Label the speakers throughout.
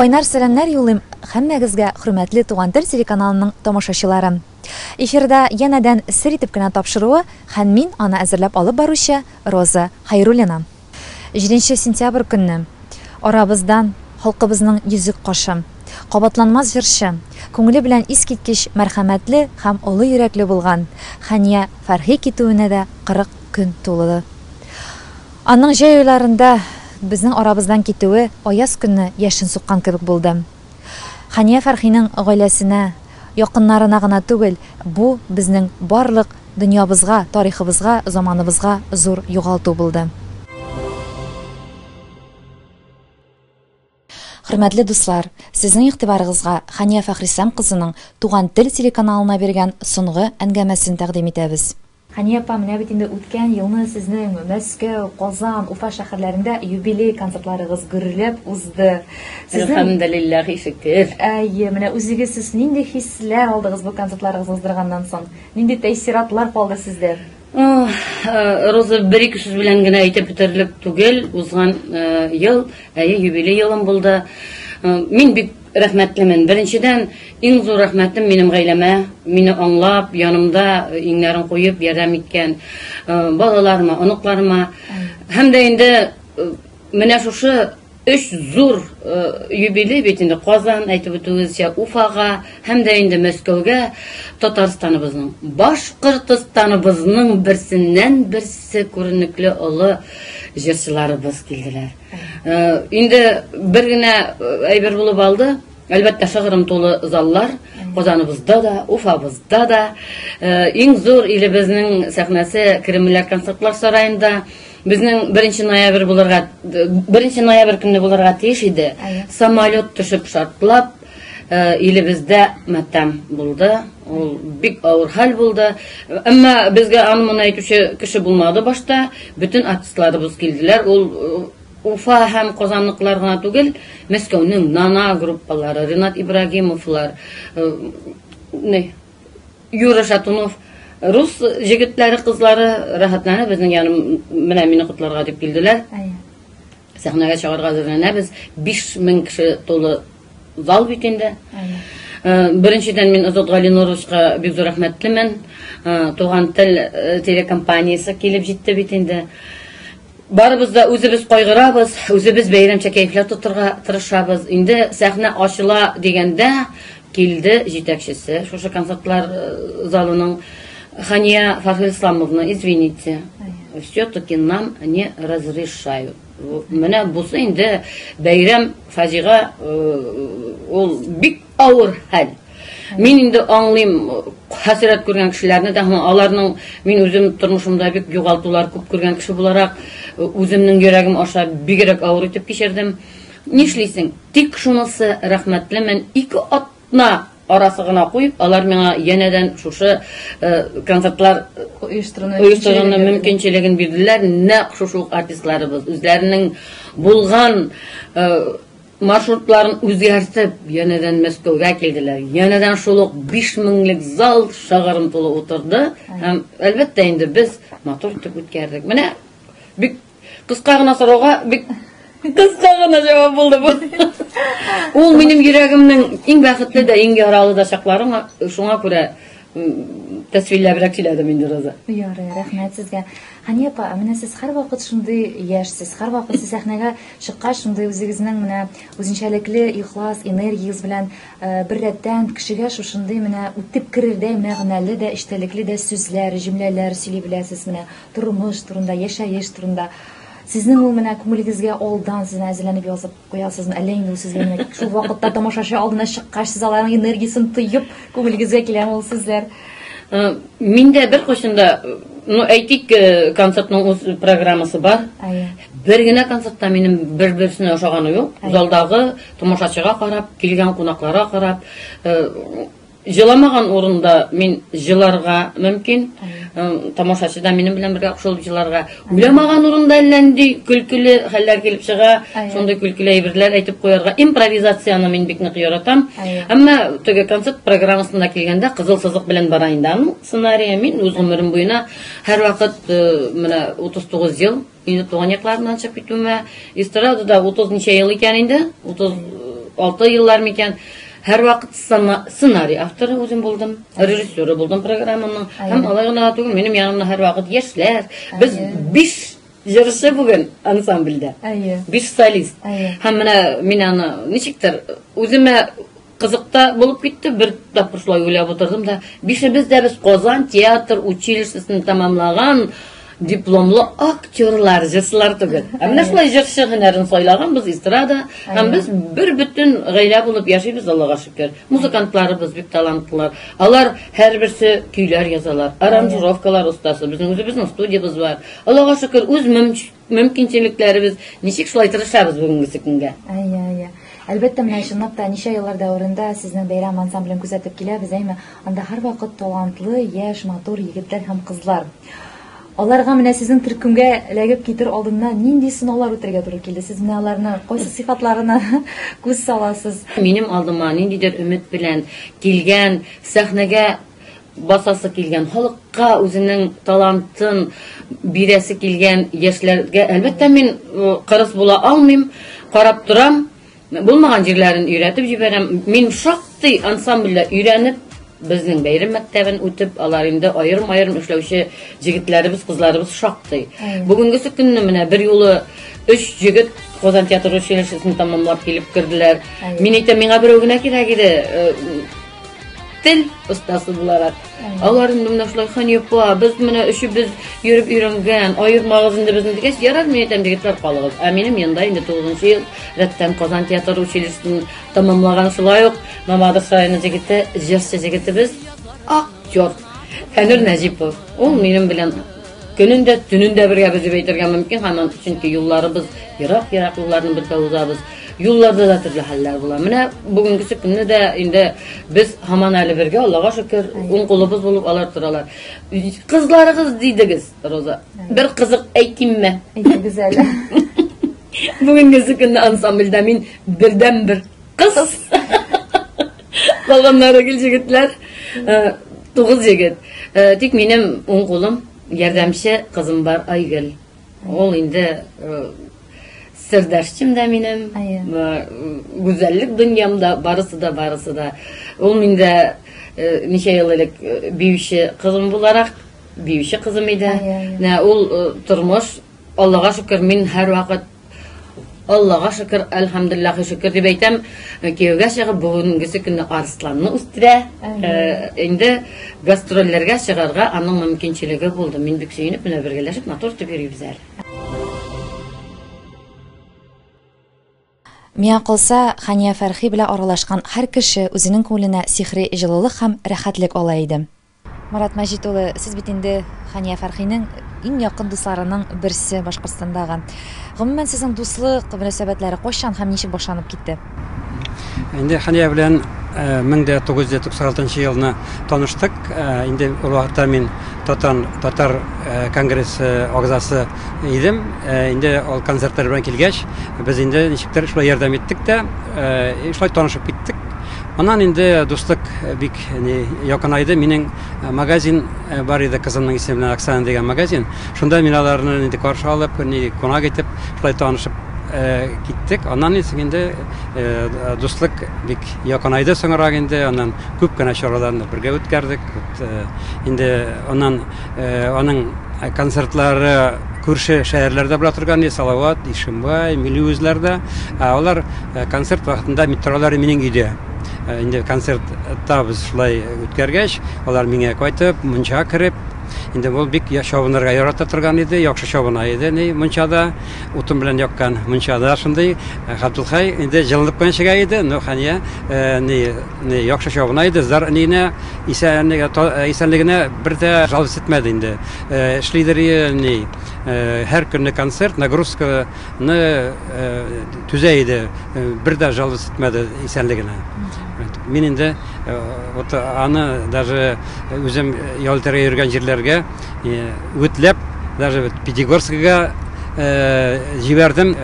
Speaker 1: Кайнар сәламнәр юллыйм һәммәгезгә хөрмәтле Туган тел телеканалының тамашачылары. Эфирда янәдән сер итеп кенә тапшыруы һән мин аны әзерләп алып баручы Роза Хәйруллина. Җиденче сентябрь көнне арабыздан халкыбызның йөзек кашы, кабатланмас җырчы, күңеле белән искиткеч мәрхәмәтле һәм олы йөрәкле булган Хәния Фәрхи китүенә дә 40 көн тулды. Аның җәй айларында безнең арабыздан китүе аяз көнне яшен суккан кебек булды. Хәния Фәрхинең гаиләсенә, якыннарына гына түгел, бу, безнең барлык дөньябызга, тарихыбызга, заманыбызга зур югалту булды. Хөрмәтле дуслар, сезнең игътибарыгызга Хания Фәхрислам кызының Туган тел телеканалына биргән сонгы әнгәмәсен тәкъдим итәбез. Хания апа, менә бит инде үткән елны сезнең Мәскәү, Казан, Уфа шәхәрләрендә юбилей концертларыгыз гөрләп узды. Сезнең Әлхәмделилләһи
Speaker 2: шөкер. Әйе, менә үзегез
Speaker 1: сез нинди хисләр алдыгыз бу концертларыгыз уздырганнан соң? Нинди тәэссиратлар калды сездә?
Speaker 2: Роза бер ике сүз белән генә әйтеп бетерлек түгел. Узган ел, әйе, юбилей елым булды. Мин бик рәхмәтлемен. Беренчедән, иң зур рәхмәтем минем гаиләмә, мине аңлап, янымда иңнәрен куеп ярдәм иткән балаларыма, оныкларыма. Һәм дә инде менә шушы Өч зур юбилей бит инде, Казан, әйтеп үтүегезчә, Уфага һәм дә инде Мәскәүгә Татарстаныбызның, Башкортостаныбызның берсеннән-берсе күренекле олы җырчыларыбыз килделәр. Инде бер генә әйбер булып алды, Әлбәттә, шыгрым тулы заллар Казаныбызда да, Уфабызда да. Иң зур илебезнең сәхнәсе Кремльләр концертлар сараенда. Безнең беренче ноябрь булырга, беренче ноябрь көнне булырга тиеш иде. Самолет төшеп шартлап, э, илебездә матәм булды. Ул бик авыр хәл булды. Әмма безгә аны моны әйтүче кеше булмады башта. Бөтен артистларыбыз килделәр. Ул э, Уфа һәм Казанлыклар гына түгел, Мәскәүнең Нана группалары, Ренат Ибрагимовлар, э, Юра Шатунов рус җегетләре, кызлары рәхәтләнеп безнең яным менә мине котларга дип килделәр. Сәхнәгә чыгарга әзерләнәбез. 5000 кеше тулы зал бит инде. Э, беренчедән мин Азат Галиноровичка бик зур рәхмәтлемен. Э, Туган тел э, телекомпаниясе килеп җитте бит инде. Барыбыз да үзебез кайгырабыз, үзебез бәйрәмчә кәефләр тотырга тырышабыз. Инде сәхнә ачыла дигәндә килде җитәкчесе, шушы концертлар э, залының Хания Фархилисламовна, извините, все-таки нам не разрешают. Менә бусы инде бәйрәм фаҗига, э, ул бик Авыр хәл. Мин инде аңлыйм хәсрәт күргән кешеләрне дә, аларның мин үзем тормышымда бик югалтулар күп күргән кеше буларак, үземнең йөрәгем аша бигрәк авыр итеп кичердем. Нишлисең? Тик шунысы рәхмәтлемен, ике атна арасы гына куеп, алар миңа янәдән шушы э, концертлар э, оештыруны мөмкинчелеген бирделәр. Нәкъ шушы ук артистларыбыз үзләренең булган э, Маршрутларын үзгәртеп, янәдән Мәскәүгә килделәр. Янәдән шул ук биш меңлек зал шыгырым тулы утырды. Һәм, әлбәттә, инде без матур итеп үткәрдек. Менә бик кыска гына сорауга бик кыска гына җавап булды бу. Ул минем йөрәгемнең иң бәхетле дә, иң яралы да чакларым, шуңа күрә тәсвирләбрәк сөйләдем инде Роза. Ярый, рәхмәт
Speaker 1: сезгә. Хания апа, менә сез һәрвакыт шундый яшьсез, һәрвакыт сез сәхнәгә чыккач, шундый үзегезнең менә үзенчәлекле ихлас энергиягез белән э, бер рәттән кешегә шушындый менә үтеп керердәй мәгънәле дә, эчтәлекле дә сүзләр, җөмләләр сөйли беләсез менә тормыш турында, яшәеш турында. Сезнең ул менә күңелегезгә алдан сезне әзерләнеп язып Куясызмы, әллә инде ул сезгә генә тик шул вакытта тамашачы алдына чыккач, сез аларның энергиясен тоеп, күңелегезгә киләме ул сүзләр? Э, Мин
Speaker 2: дә бер кочында, э, ну әйтик, э, концертның үз программасы бар. Әйе. Бер генә концертта минем бер-берсенә ошаганы юк. Залдагы тамашачыга карап, килгән кунакларга карап, э, Җыламаган урында мин җыларга мөмкин. Тамашачы да минем белән бергә кушылып җыларга. Уйламаган урында әллә нинди көлкеле хәлләр килеп чыга. Шундый көлкеле әйберләр әйтеп куярга. Импровизацияне мин бик нык яратам. Әмма теге концерт программасына килгәндә кызыл сызык белән бара инде аның сценарие. Мин үз гомерем буена һәрвакыт менә 39 ел Инде туган якларымнан чыгып китүемә эстрадада 30 ничә ел икән инде, 36 еллар микән. Һәр вакыт сценарий авторы үзем булдым, режиссеры булдым программаның. Һәм алай гына түгел, минем янымда һәр вакыт яшьләр. Без 5 җырчы бүген ансамбльдә. Әйе. Биш солист. Әйе. Һәм менә мин аны ничектер үземә Кызык та булып китте, бер тапкыр шулай уйлап утырдым да, бишебез дә без Казан театр училищесын тәмамлаган дипломлы актерлар, җырчылар түгел. Ә менә шулай җырчы һөнәрен сайлаганбыз, эстрада. Һәм без бер бөтен гаилә булып яшибез, Аллага шөкер. Музыкантларыбыз бик талантлылар. Алар һәрберсе көйләр язалар, аранжировкалар остасы. Безнең үзебезнең студиябез бар. Аллага шөкер, үз мөмкинлегебез мөмкинчелекләребез ничек шулай тырышабыз бүгенге көнгә әйе әйе әлбәттә
Speaker 1: менә чынлап та ничә еллар дәверендә сезнең бәйрәм ансамблен күзәтеп киләбез әйме анда һәрвакыт талантлы яшь матур егетләр һәм кызлар аларга менә сезнең төркемгә эләгеп китер алдыннан нинди сынаулар үтәргә туры килде сез менә аларны кайсы сыйфатларына күз саласыз минем алдыма
Speaker 2: ниндидер өмет белән килгән сәхнәгә басасы килгән, халыкка үзенең талантын бирәсе килгән яшьләргә, әлбәттә, мин кырыс була алмыйм, карап торам, булмаган җирләрен өйрәтеп җибәрәм. Мин шактый ансамбльдә өйрәнеп, безнең бәйрәм мәктәбен үтеп, алар инде аерым-аерым эшләүче җегетләребез, кызларыбыз шактый. Бүгенгесе көнне менә бер юлы өч җегет Казан театр училищесын тәмамлап килеп керделәр. Мин әйтәм, миңа берәү генә кирәк иде, тел остасы буларак алар инде менә шулай ханифа без менә өчебез йөреп өйрәнгән аермагыз инде безне дигәч ярар мин әйтәм егетләр калыгыз ә минем янда инде тугызынчы ел рәттән казан театр училищесын тәмамлаган шулай ук мамадыш районы егете җырчы җегетебез актер фәнүр нәҗипов ул минем белән Көнен дә, төнен дә бергә без дип әйтергә мөмкин, һаман чөнки юлларыбыз ерак, ерак юлларны бергә узабыз. Юлларда да төрле хәлләр була. Менә бүгенгесе көнне дә инде без һаман әле бергә, Аллага шөкер, уң кулыбыз булып алар торалар. Кызларыгыз дидегез, Роза. Бер кызык әйтимме? Әйтегез әле. Бүгенгесе көнне ансамбльдә мин бердән-бер Кыз. Калганнары гел җегетләр. Э, тугыз егет. Э, тик минем уң кулым ярдәмче кызым бар Айгөл. Ул инде э, сердәшчем дә минем. Гүзәллек дөньямда барысы да барысы да. Ул миндә ничә ел элек биюче кызым буларак биюче кызым иде. Ул тормыш Аллага шөкер, мин һәрвакыт Аллага шөкер, әлхәмдулиллахи шөкер дип әйтәм. Э, кияүгә чыгып, бүгенгесе көнне Арсланны үстерә. Э, инде гастрольләргә чыгарга аның мөмкинчелеге булды. Мин бик сөенеп, менә бергәләшеп матур итеп йөрибез әле.
Speaker 1: Миңа калса, Хания Фәрхи белән аралашкан һәр кеше үзенең күңеленә сихри җылылык һәм рәхәтлек ала иде. Марат Мәҗит улы, сез бит инде Хания Фәрхинең иң якын дусларының берсе Башкортстандагы. Гомумән, сезнең дуслык мөнәсәбәтләре кайчан һәм ничек башланып китте?
Speaker 3: Инде Хания белән 1996 нчы елны таныштык. Инде ул вакытта мин Татан татар конгрессы агзасы идем. Ә, инде ул концертлар белән килгәч, без инде ничектер шулай ярдәм иттек тә, ә, шулай танышып киттек. Аннан инде дуслык бик не якынайды. Минем магазин бар иде кызымның исеме белән Оксана дигән магазин. Шунда мин аларны инде каршы алып, не кунак итеп, шулай танышып Э, киттек аннан инде э, дуслык бик якынайды соңрак инде аннан күп кенә чараларны бергә үткәрдек э, инде аннан Аның концертлары күрше шәһәрләрдә була торган, Салават, Ишембай, Милли үзләрдә. Алар концерт вакытында метролары минең өйдә. Инде концертта без шулай үткәргәч, алар миңа кайтып, мунчага кереп, инде ул бик чабынырга ярата торган иде, яхшы чабына иде, ни, мунчада, утын белән яккан мунчада шундый. Габделхәй инде җылынып кына чыга иде, но Хәния, ни, Яхшы чабына иде, зар әниенә исәнлегенә бер дә жалость итмәде инде. Эшлидер ни, һәр көнне концерт, нагрузканы түзә иде, бер дә жалость итмәде исәнлегенә. Мин инде вот аны даже үзем ял итәргә йөргән җирләргә үгетләп, даже Пятигорскига җибәрдем.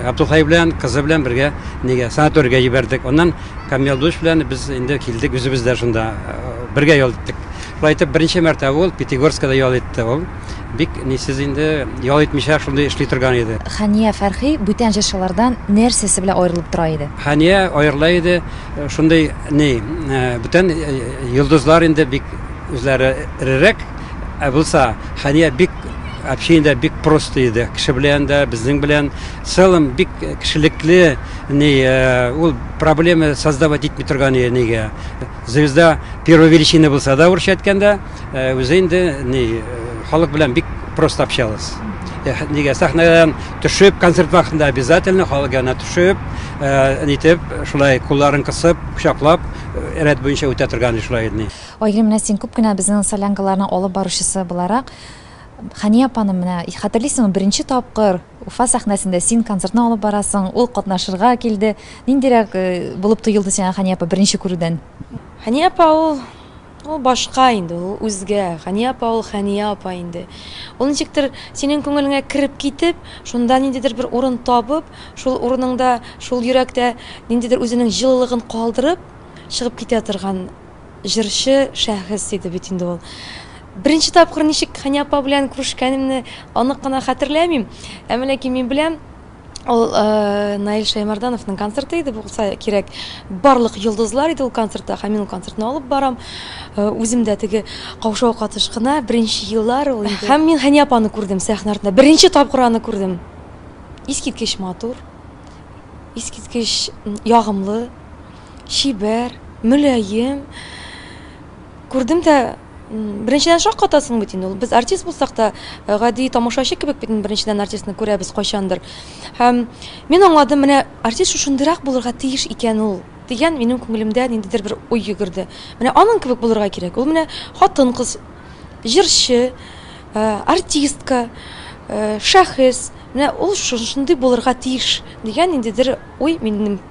Speaker 3: Габдулхай белән, кызы белән бергә нигә санаторийга җибәрдек. Аннан. Камил дус белән без инде килдек, үзебез дә шунда бергә ял иттек. Шулай итеп, беренче мәртәбә ул Пятигорскада ял итте ул. Бик нисез инде ял итмичә шундый эшли торган иде. Хания Фәрхи
Speaker 1: бүтән җырчылардан нәрсәсе белән аерылып тора иде? Хания аерыла иде,
Speaker 3: шундый ни, бүтән йолдызлар инде бик үзләре эрерәк, ә булса Хания бик общение бик просто иде. Кеше белән дә, безнең белән Целом бик кешелекле, ни, ул проблема создавать итми торган иде нигә. Звезда первой величины булса да, урысча әйткәндә, үзе инде ни, халык белән бик просто общалась. Нигә сәхнәдән төшеп, концерт вакытында обязательно халык янына төшеп, нитеп, шулай кулларын кысып, кочаклап, рәт буенча үтә торган иде шулай иде ни. Айгөл, менә син күп кенә
Speaker 1: безнең солянкаларның алып баручысы буларак, Хәния апаны менә хәтерлисеңме, беренче тапкыр, Уфа сәхнәсендә син концертны алып барасың, ул катнашырга килде. Ниндирәк булып тоелды сиңа Хәния апа беренче күрүдән? Хәния апа
Speaker 4: ул, ул башка инде, ул үзгә. Хәния апа ул Хәния апа инде. Ул ничектер синең күңелеңә кереп китеп, шунда ниндидер бер урын табып, шул урыныңда, шул йөрәктә ниндидер үзенең җылылыгын калдырып чыгып китә торган Җырчы шәхес иде бит инде ул. Беренче тапкыр ничек Хәния апа белән күрешкәнемне анык кына хәтерләмим. Әмма ләкин мин беләм, ул Наил Шәймәрдановның концерты иде булса кирәк. Барлык йолдызлар иде ул концертта һәм мин ул концертны алып барам. Үзем дә теге каушау катыш кына, беренче еллар ул инде. Һәм мин Хәния апаны күрдем сәхнә артында. Беренче тапкыр аны күрдем. Искиткеч матур, искиткеч ягымлы. чибәр, мөлаем. Күрдем дә, беренчедән шаккатасың бит инде ул. Без артист булсак та, э, гади тамашачы кебек бит беренчедән артистны күрәбез кайчандыр. Һәм мин аңладым, менә артист шушындырак булырга тиеш икән ул дигән минем күңелемдә ниндидер бер уй йөгерде. Менә аның кебек булырга кирәк. Ул менә хатын-кыз, җырчы, э, артистка, э, шәхес. Менә ул шундый булырга тиеш дигән ниндидер уй минем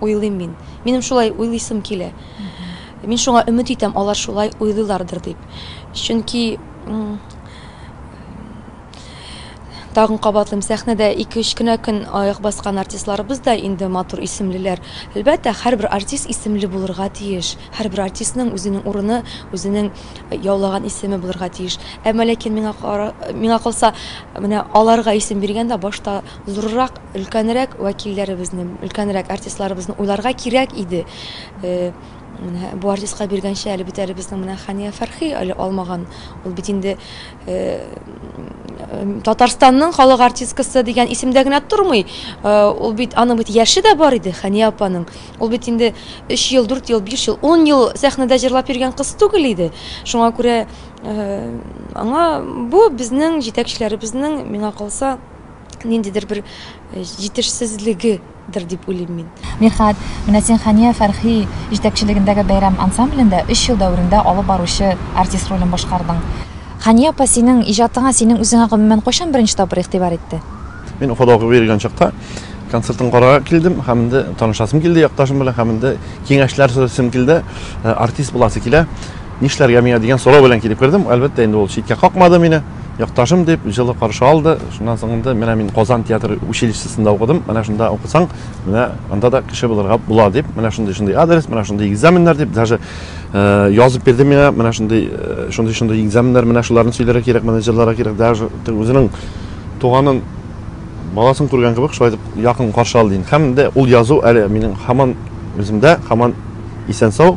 Speaker 4: уйлыйм мин. Минем шулай уйлыйсым килә. Мин шуңа өмет итәм, алар шулай уйлыйлардыр дип. Чөнки, тагын кабатлыйм, сәхнәдә ике-өч кенә көн аяк баскан артистларыбыз да инде матур исемлеләр. Әлбәттә, һәрбер артист исемле булырга тиеш. Һәрбер артистның үзенең урыны, үзенең яулаган исеме булырга тиеш. Әмма ләкин миңа кара, миңа калса, менә аларга исем биргәндә башта Зуррак, өлкәнрәк вәкилләребезне, өлкәнрәк артистларыбызны уйларга кирәк иде. Менә бу артистка биргәнче әле бит әле безнең менә Хания Фәрхи әле алмаган. Ул бит инде Татарстанның халык артисткасы дигән исемдә генә тормый. Ул бит аның бит яше дә бар иде, Хания апаның. Ул бит инде 3 ел, 4 ел, 5 ел, 10 ел сәхнәдә җырлап йөргән кыз түгел иде. Шуңа күрә аңа бу безнең җитәкчеләребезнең, миңа калса, ниндидер бер э, җитешсезлегедер дип уйлыйм мин. Мирхат, менә
Speaker 1: син Хания Фәрхи җитәкчелегендәге бәйрәм ансамблендә 3 ел дәверендә алып баручы артист ролен башкардың. Хания апа синең иҗатыңа, синең үзеңә гомумән кайчан беренче тапкыр игътибар итте? Мин Уфада укып
Speaker 5: йөргән чакта концертын карарга килдем һәм инде танышасым килде якташым белән һәм инде киңәшләр сорасым килде э, артист буласы килә нишләргә миңа дигән сорау белән килеп кердем әлбәттә инде ул читкә какмады мине Якташым, дип, җылы каршы алды. Шуннан соң инде, менә мин Казан театр училищесында укыдым, менә шунда укысаң, менә анда да кеше булырга була, дип, менә шундый-шундый адрес, менә шундый экзаменнар, дип, даже язып бирде миңа, менә шундый, шундый-шундый экзаменнар, менә шуларны сөйләргә кирәк, моны җырларга кирәк, даже үзенең туганын, баласын күргән кебек, шулай итеп якын каршы алды инде. Һәм дә ул язу әле минем һаман үземдә, һаман исән-сау.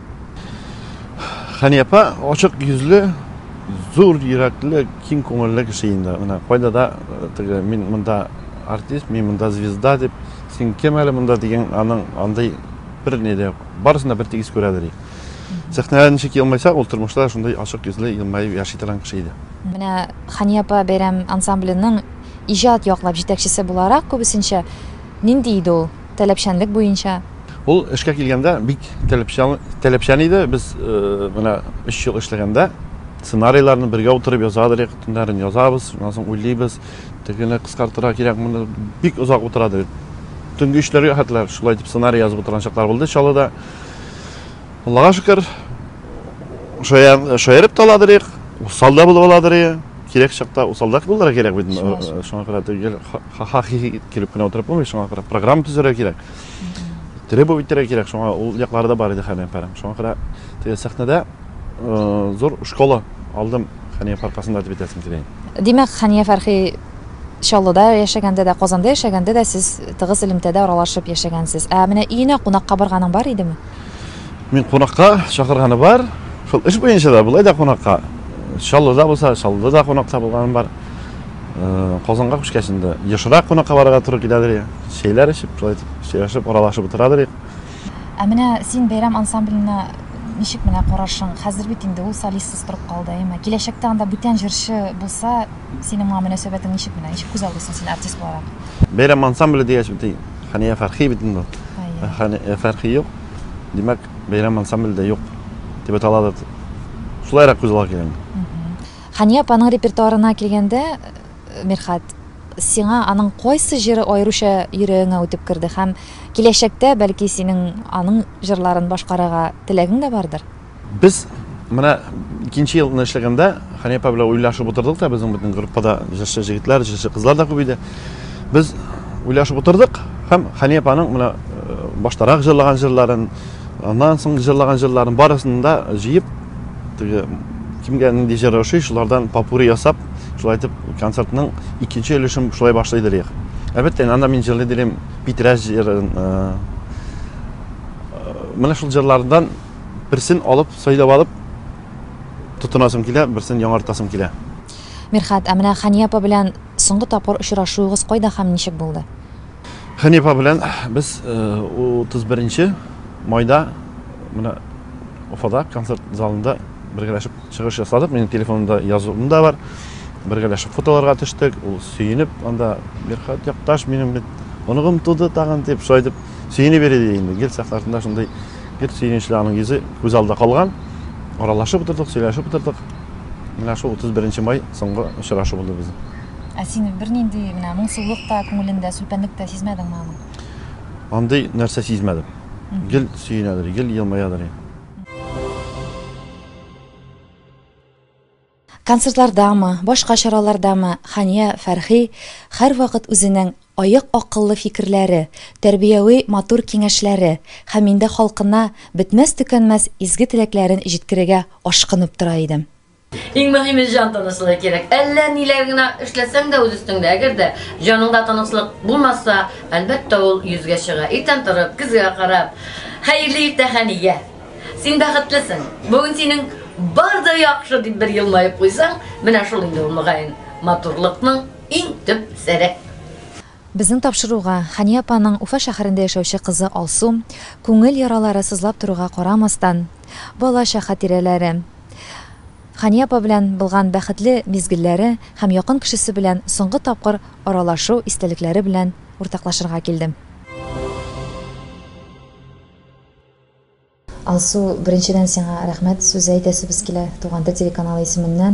Speaker 5: Хәния апа ачык йөзле, зур йөрәкле, киң күңелле кеше инде. Менә кайда да э, теге мин монда артист, мин монда звезда дип, син кем әле монда дигән аның андый бер ни дә юк. Барысын да бер тигез күрәдер. Сәхнәдә ничек елмайса, ул тормышта шундый ачык йөзле, елмаеп яши торган кеше иде. Менә Хәния
Speaker 1: апа бәйрәм ансамбленең иҗат яклап җитәкчесе буларак күбесенчә нинди иде ул? таләпчәнлек буенча. Ул эшкә
Speaker 5: килгәндә бик таләпчән иде. Без менә өч ел эшләгәндә сценарийларны бергә утырып язадырык, төннәрен язабыз, шуннан соң уйлыйбыз, тегене кыскартырга кирәк, моны бик озак утырадыр. Төнге өчләргә хәтләр шулай итеп сценарий язып утырган чаклар булды Чаллыда. Аллага шөкер, шаярып та аладырык, усал да булып аладырык, кирәк чакта усал да булырга кирәк бит, шуңа күрә ха-ха-хи-хи итеп көлеп кенә утырып булмый, шуңа күрә программа төзергә кирәк. Требовать итәргә кирәк, шуңа ул яклары да бар иде Хәния апаның. Шуңа күрә теге сәхнәдә э, зур школа алдым Хәния апа аркасында дип әйтәсем килә. Димәк, Хәния
Speaker 1: Фәрхи Чаллыда яшәгәндә дә, Казанда яшәгәндә дә сез тыгыз элемтәдә аралашып яшәгәнсез. Ә менә өенә кунакка барганың бар идеме? Мин
Speaker 5: кунакка чакырганы бар. Шул эш буенча да, болай да кунакка. Чаллыда булса, Чаллыда да кунакта булганым бар. Казанга күчкәч инде ешрак кунакка барырга туры киләдер, чәйләр эчеп, шулай итеп сөйләшеп, аралашып утырадыр. Ә менә
Speaker 1: син бәйрәм ансамбленә ничек менә карашың? Хәзер бит инде ул солистсыз торып калды, әйеме? Киләчәктә анда бүтән җырчы булса, синең моңа мөнәсәбәтең ничек менә? Ничек күз алдыйсың син артист буларак? Бәйрәм ансамбле
Speaker 5: дигәч бит, Хәния Фәрхи бит инде. Хәния Фәрхи юк. Димәк, бәйрәм ансамбле дә юк дип әйтә аладыр. Шулайрак күз ала килгән. Хәния
Speaker 1: апаның репертуарына килгәндә, Мирхәт, сиңа аның кайсы җыры аеруча йөрәгеңә үтеп керде һәм киләчәктә, бәлки, синең аның җырларын башкарырга теләгең дә бардыр? Без
Speaker 5: менә икенче елны эшләгәндә, Хәния апа белән уйлашып утырдык та, безнең бөтен группа да җырчы җегетләр, җырчы кызлар да күп иде. Без уйлашып утырдык һәм Хәния апаның менә баштарак җырлаган җырларын, Аннан соң җырлаган җырларын барысын да җыеп, теге кемгә нинди җыр ошый, шулардан попури ясап, шулай итеп концертның икенче өлешен шулай башлый дилек. Әлбәттә, анда мин җырлый дилем Питрәс җырын. Э, э, менә шул җырлардан берсен алып, сайлап алып тотынасым килә, берсен яңартасым килә. Мирхат, ә
Speaker 1: менә Хания апа белән соңгы тапкыр очрашуыгыз кайда һәм ничек булды? Хәни апа
Speaker 5: белән без 31 нче майда менә Уфада концерт залында бергәләшеп чыгыш ясадык. Минем телефонымда язуым да бар. Бергәләшеп фотоларга төштек. Ул сөенеп анда Мирхат якташ минем бит оныгым туды тагын дип шулай дип сөенеп йөри ди инде. Гел сәхнәсендә шундый гел сөенечле аның йөзе күз алда калган. Аралашып утырдык, сөйләшеп утырдык. Менә шул 31 май соңгы очрашу булды безнең. Ә син бернинди
Speaker 1: менә моңсулык та күңелендә, сүлпәнлек тә сизмәдеңме аның? Андый
Speaker 5: нәрсә сизмәдем. Гел сөенәдер, гел елмаядыр.
Speaker 1: Концертлардамы, башка чаралардамы Хания Фәрхи һәрвакыт үзенең аек акыллы фикерләре, тәрбияви матур киңәшләре һәм инде халкына бетмәс-төкәнмәс изге теләкләрен җиткерергә ашкынып тора иде. Иң мөһиме
Speaker 2: җан тынычлыгы кирәк. Әллә ниләр генә эшләсәң дә үз өстеңдә, әгәр дә җаныңда тынычлык булмаса, әлбәттә ул йөзгә чыга. Иртән торып, көзгә карап, хәерле иртә хәнигә. Син бәхетлесең. Бүген синең бар да яхшы дип бер елмаеп куйсаң, менә шул инде ул мөгаен матурлыкның иң төп сере. Безнең
Speaker 1: тапшыруга, Хәния апаның Уфа шәһәрендә яшәүче кызы Алсу, күңел яралары сызлап торуга карамастан, бала-ча хатирәләре, Хәния апа белән былган бәхетле мизгелләре һәм якын кешесе белән соңгы тапкыр аралашу истәлекләре белән уртаклашырга килде. Алсу, беренчедән сиңа рәхмәт сүзе әйтәсебез килә, Туган тел телеканалы исеменнән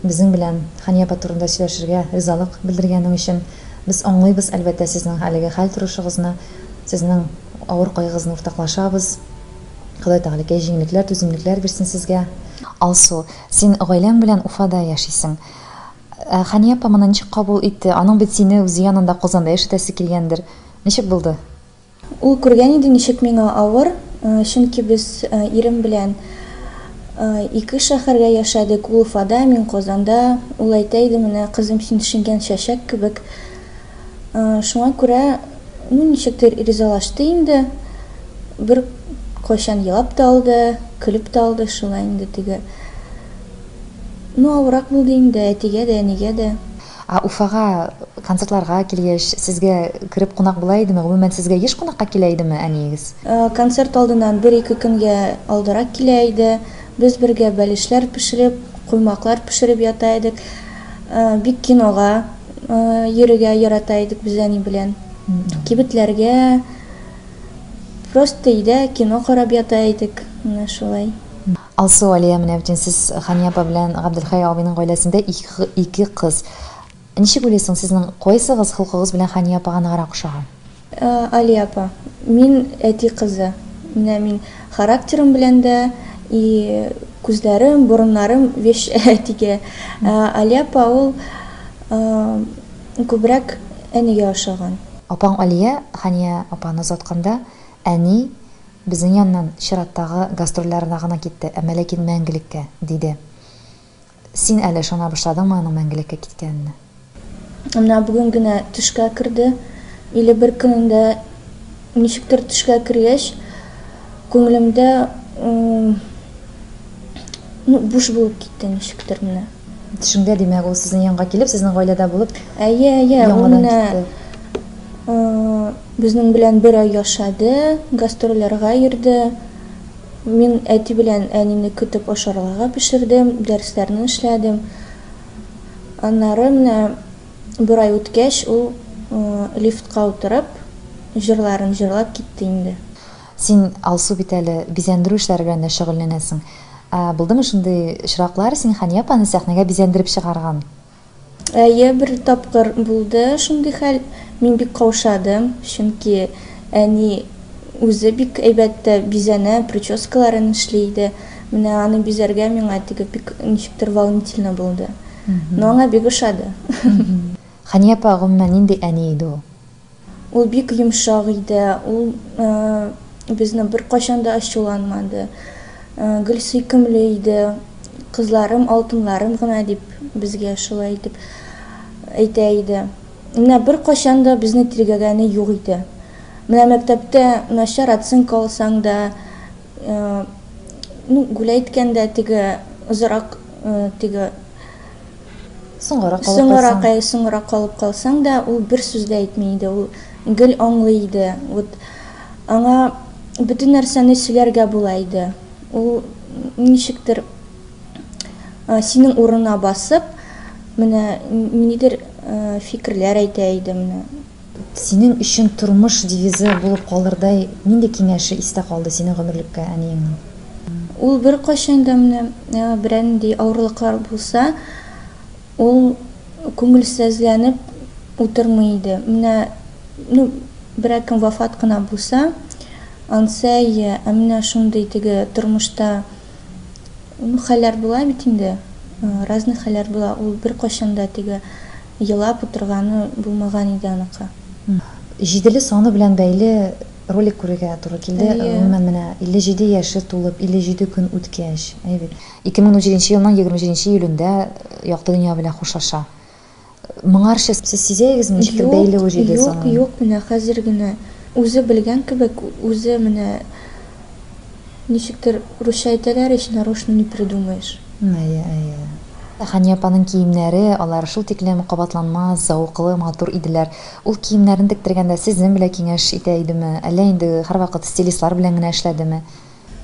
Speaker 1: безнең белән Хәния апа турында сөйләшергә ризалык белдергәнең өчен. Без аңлыйбыз, әлбәттә, сезнең әлеге хәл торышыгызны, сезнең авыр кайгыгызны уртаклашабыз. Ходай Тәгаләкәй җиңлекләр, түземлекләр бирсен сезгә. Алсу, син гаиләң белән Уфада яшисең. Ә Хәния апа моны ничек кабул итте? Аның бит сине үзе янында, Казанда яшәтәсе килгәндер. Ничек булды? Ул күргән
Speaker 6: иде, ничек миңа авыр, чөнки без ирем белән ике шәһәргә яшәдек, ул Уфада, мин Казанда. Ул әйтә иде, Менә, кызым, син шиңгән чәчәк кебек. Шуңа күрә, ну, ничектер ризалашты инде. Беркайчан елап та алды, көлеп тә алды, шулай инде теге. Ну, авыррак булды инде әтигә дә,
Speaker 1: әнигә
Speaker 6: дә. Ә Уфага
Speaker 1: концертларга килгәч, сезгә кереп кунак була идеме? Гомумән, сезгә еш кунакка килә идеме әниегез? Концерт алдыннан
Speaker 6: бер-ике көнгә алдарак килә иде. Без бергә бәлешләр пешереп, коймаклар пешереп ята идек. Бик кинога йөрергә ярата идек без әни белән. Кибетләргә, просто өйдә кино карап ята идек. Менә шулай. Алсу, Алия,
Speaker 1: менә бит инде сез Хания апа белән Габделхәй абыйның гаиләсендә ике кыз. Ничек уйлыйсың, сезнең кайсыгыз холкыгыз белән Хания апага ныграк ошаган? Алия
Speaker 6: апа, мин әти кызы. Менә мин характерым белән дә, и күзләрем, борыннарым вещь әтигә. Ә Алия апа ул күбрәк әнигә ошаган. Апаң Алия
Speaker 1: Хания апаны озатканда, әни, Безнең яннан чираттагы гастрольләренә гына китте, әмма ләкин мәңгелеккә, диде. Син әле ышана башладыңмы аның мәңгелеккә киткәненә? Менә
Speaker 6: бүген генә төшкә керде. Или бер көнендә ничектер төшкә кергәч, күңелемдә ну буш булып китте ничектер менә. Төшеңдә, димәк,
Speaker 1: ул сезнең янга килеп, сезнең гаиләдә булып, Әйе, әйе, ул яңадан
Speaker 6: менә
Speaker 1: китте.
Speaker 6: Безнең белән бер ай яшәде, гастрольләргә йөрде. Мин әти белән әнине көтеп ашарларга пешердем, дәресләрне эшләдем. Аннары менә бер ай үткәч, ул лифтка утырып, җырларын җырлап китте инде. Син,
Speaker 1: Алсу, бит әле бизәндерү эшләре белән дә шөгыльләнәсең. Ә булдымы шундый очраклар, син Хания апаны сәхнәгә бизәндереп чыгарган? Әйе,
Speaker 6: бер тапкыр булды шундый хәл. Мин бик каушадым, чөнки әни үзе бик әйбәт тә бизәнә, прическаларын эшли иде. Менә аны бизәргә миңа теге бик ничектер волнительно булды. Но аңа бик ошады.
Speaker 1: Хәния апа, гомумән, нинди әни иде ул? Ул бик
Speaker 6: йомшак иде, ул безне беркайчан да ачуланмады, гел сөйкемле иде, кызларым, алтыннарым гына дип, безгә шулай итеп әйтә иде. Менә беркайчан да безне тиргәгәне юк иде. Менә мәктәптә начар оценка алсаң да, Ну, гүлә әйткәндә, теге озырак, теге соңгарак калып соңгарак, калсаң. Соңгарак калып калсаң да, ул бер сүз дә әйтми иде, ул гел аңлый иде. Вот аңа бөтен нәрсәне сөйләргә була иде. Ул ничектер синең урынына басып, менә ниндидер фикерләр әйтә иде, менә Синең
Speaker 1: өчен тормыш девизы булып калырдай нинди киңәше истә калды синең гомерлеккә әниеңнең? Ул
Speaker 6: беркайчан да менә берәнди авырлыклар булса, ул күңелсезләнеп утырмый иде. Менә, ну, берәкем вафат кына булса, Ансәй, ә менә шундый теге тормышта, ну, хәлләр була бит инде, разный хәлләр була, ул беркайчан да теге Елап утырганы булмаган иде аныкы. Җиделе
Speaker 1: саны белән бәйле ролик күрергә туры килде. Гомумән, менә 57 яше тулып, 57 көн үткәч. Әйе бит. 2017 елның 27 июлендә якты дөнья белән хушлаша. Моңарчы сез сизәегезме, ничектер бәйле ул җиде санын? Юк, юк, юк, менә хәзер
Speaker 6: генә. Үзе белгән кебек, үзе менә. Ничектер, русча әйтәләр ич, нарочно не придумаешь. Әйе,
Speaker 1: әйе. Хәния апаның киемнәре, алар шул тиклем кабатланмас, зәвыклы, матур иделәр. Ул киемнәрен тектергәндә сезнең белә киңәш итә идеме, әллә инде һәрвакыт стилистлар белән генә эшләдеме?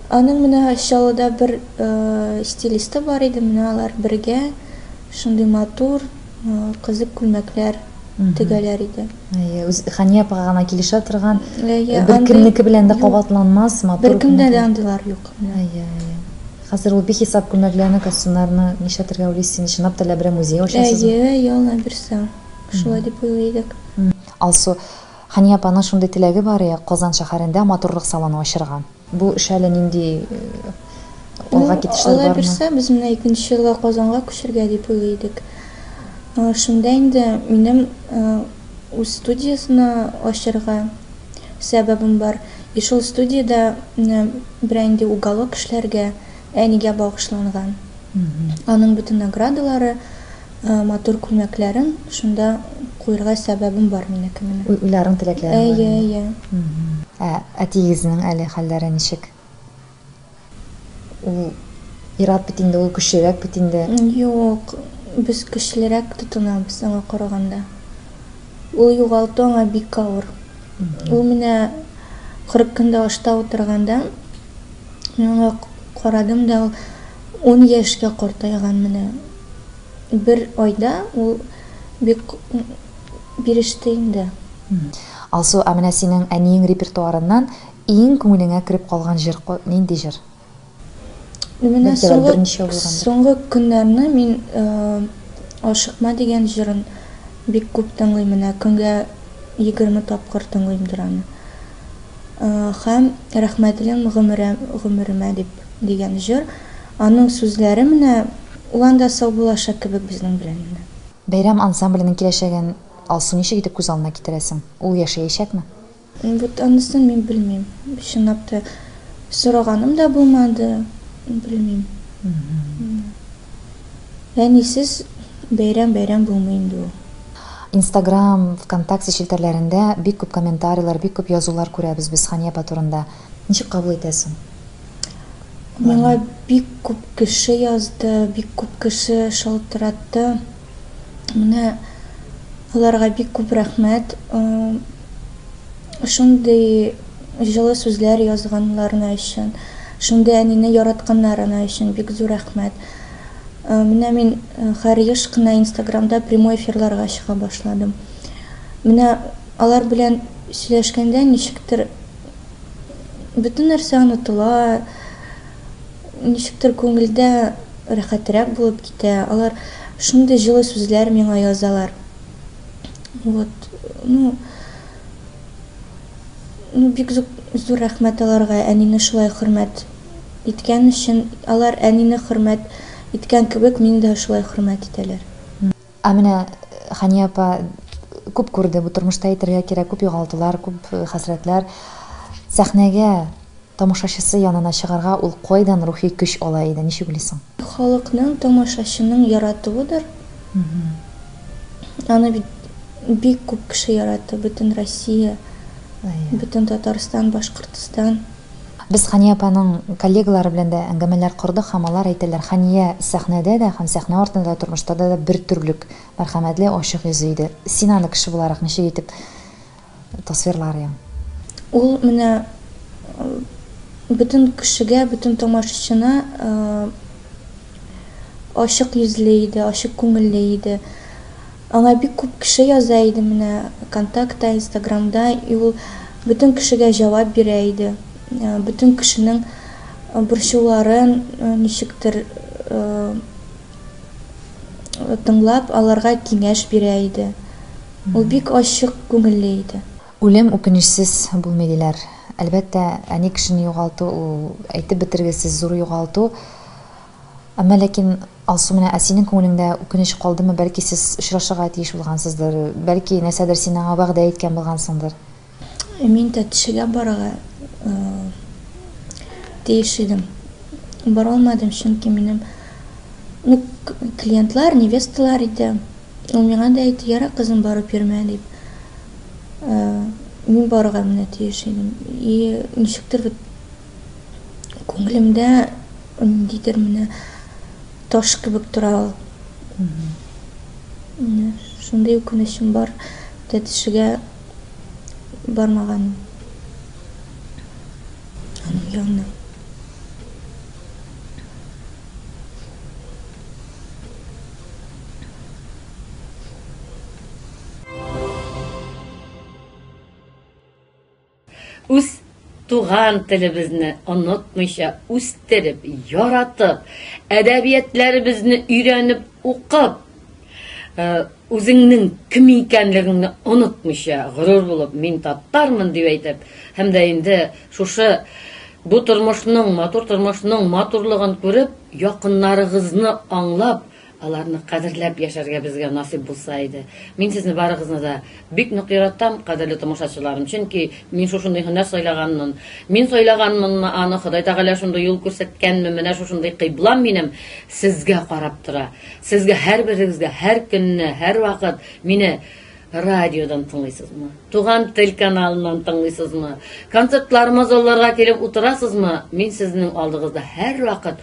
Speaker 1: Аның менә
Speaker 6: Чаллыда бер стилисты бар иде, менә алар бергә шундый матур, кызык күлмәкләр. тегәләр иде. Әйе, үз Хания
Speaker 1: апага гына килешә торган, Әйе, бер андый кемнеке белән дә юк. кабатланмас, матур Беркемдә күнегү. дә андыйлар
Speaker 6: юк. Әйе, әйе.
Speaker 1: Хәзер ул бихисап күлмәкләрне, костюмнарны нишләтергә уйлыйсыз инде, чынлап та Ләбирә музее ачасызмы? Әйе, әйе, Алла бирсә,
Speaker 6: шулай дип уйлый идек. Алсу,
Speaker 1: Хания апаның шундый теләге бар, Казан шәһәрендә матурлык салоны ачырга. Бу эш әле нинди алга китешләр бармы? Ну, Алла бирсә, без менә
Speaker 6: икенче елга Казанга күчергә дип уйлый идек. Шунда инде минем үз студиясенә ачырга сәбәбем бар. И шул студиядә берәр инде уголок эшләргә, әнигә багышланган. Аның бөтен наградалары, Матур күлмәкләрең шунда куерга сәбәбем бар минеке менә. Уйларың теләкләрең
Speaker 1: бар инде. Әйе, әйе. Ә
Speaker 6: әтиегезнең
Speaker 1: әле хәлләре ничек? Ул ерак бит инде, ул көчлерәк бит инде.
Speaker 6: Юк, без көчлерәк тотынабыз аңа караганда. Ул югалту аңа бик авыр. Ул менә 40 көндә ашта утырганда мин аңа карадым да, ул. Ун яшькә картайган менә. Бер айда ул бик биреште инде. Алсу,
Speaker 1: ә менә синең әниең репертуарыннан иң күңелеңә кереп калган җыр нинди җыр?
Speaker 6: Ну менә
Speaker 1: соңгы көннәрне
Speaker 6: мин Ашыкма дигән җырын бик күп тыңлыйм, менә көнгә егерме тапкыр тыңлыймдыр аны. Һәм Рәхмәтлем гомерә, гомеремә дип, дигән җыр, аның сүзләре менә ул анда сау булачак кебек безнең белән инде. Бәйрәм
Speaker 1: ансамбленең киләчәген, Алсу, ничек итеп күз алдына китерәсең? Ул яшәячәкме? Вот
Speaker 6: анысын мин белмим. Чынлап та сораганым да булмады, белмим. Әнисез бәйрәм бәйрәм булмый инде ул. Инстаграм,
Speaker 1: Вконтакте челтәрләрендә бик күп комментарийлар, бик күп язулар күрәбез без Хания апа турында. Ничек кабул итәсең?
Speaker 6: Миңа бик күп кеше язды, бик күп кеше шалтыратты. Менә аларга бик күп рәхмәт. Шундый җылы сүзләр язганнарына өчен, шундый әнине яратканнарына өчен бик зур рәхмәт. Менә мин хәр еш кына инстаграмда прямой эфирларга чыга башладым. Менә алар белән сөйләшкәндә ничектер бөтен нәрсә онытыла, Ничектер күңелдә рәхәтрәк булып китә. Алар шундый җылы сүзләр миңа язалар. Вот, ну, ну бик зур рәхмәт аларга, әнине шулай хөрмәт иткән өчен. Алар әнине хөрмәт иткән кебек, мине дә шулай хөрмәт итәләр. Ә менә
Speaker 1: Хәния апа күп күрде, бу тормышта әйтергә кирәк, күп югалтулар, күп хәсрәтләр. Сәхнәгә, тамашачысы янына чыгарга ул кайдан рухи көч ала иде, ничек уйлыйсың? Халыкның,
Speaker 6: тамашачының яратуыдыр. Аны бит бик күп кеше ярата, бөтен Россия, бөтен Татарстан, Башкортстан. Без Хания
Speaker 1: апаның коллегалары белән дә әңгәмәләр кордык һәм алар әйтәләр, Хания сәхнәдә дә һәм сәхнә артында да, тормышта да да бер төрлек, мәрхәмәтле, ачык йөзле иде. Син аны кеше буларак ничек итеп тасвирларйың?
Speaker 6: Ул менә бөтен кешегә, бөтен тамашачына ачык йөзле иде, ачык күңелле иде. Аңа бик күп кеше яза иде менә контактта, инстаграмда, и ул бөтен кешегә җавап бирә иде, бөтен кешенең борчуларын ничектер тыңлап, аларга киңәш бирә иде. Ул бик ачык күңелле иде. Үлем үкенечсез
Speaker 1: булмый, диләр. Әлбәттә, әни кешене югалту, ул әйтеп бетергесез зур югалту. Әмма ләкин, Алсу, менә, ә синең күңелеңдә үкенеч калдымы, бәлки сез очрашырга тиеш булгансыздыр, бәлки нәрсәдер син аңа вәгъдә иткән булгансыңдыр? Ә мин
Speaker 6: тәтешегә барырга тиеш идем. Баралмадым, чөнки минем, ну, клиентлар, невесталар иде. Ул миңа да әйтте, Ярар, кызым, барып йөрмә, дип. Мин барырга менә тиеш идем. И ничектер вот. күңелемдә ниндидер менә таш кебек тора ул менә шундый үкенечем бар тәтешегә бармаганым аның янына
Speaker 2: Үз туган телебезне онытмыйча, үстереп, яратып, әдәбиятләребезне өйрәнеп, укып, үзеңнең кем икәнлегеңне онытмыйча, горур булып, мин татармын дип әйтеп, һәм дә инде шушы бу тормышның, матур тормышның матурлыгын күреп, якыннарыгызны аңлап, Аларны кадерләп яшәргә безгә насыйп булса иде. Мин сезне барыгызны да бик нык яратам, кадерле тамашачыларым, чөнки мин шушындый һөнәр сайлаганмын. Мин сайлаганмынмы аны, Ходай Тәгалә шундый юл күрсәткәнме, менә шушындый кыйблам минем сезгә карап тора. Сезгә һәрберегезгә һәр көнне, һәрвакыт мине радиодан тыңлыйсызмы? Туган тел каналыннан тыңлыйсызмы? Концертларыма залларга килеп утырасызмы? Мин сезнең алдыгызда һәрвакыт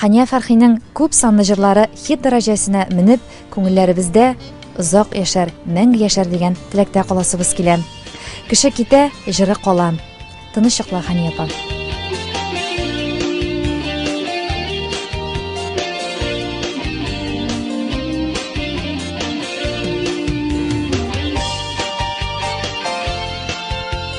Speaker 1: Хания Фәрхинең күп санлы җырлары хит дәрәҗәсенә менеп, күңелләребездә озак яшәр, мәңге яшәр дигән теләктә каласыбыз килә. Кеше китә, җыры кала. Тыныч йокла, Хания апа.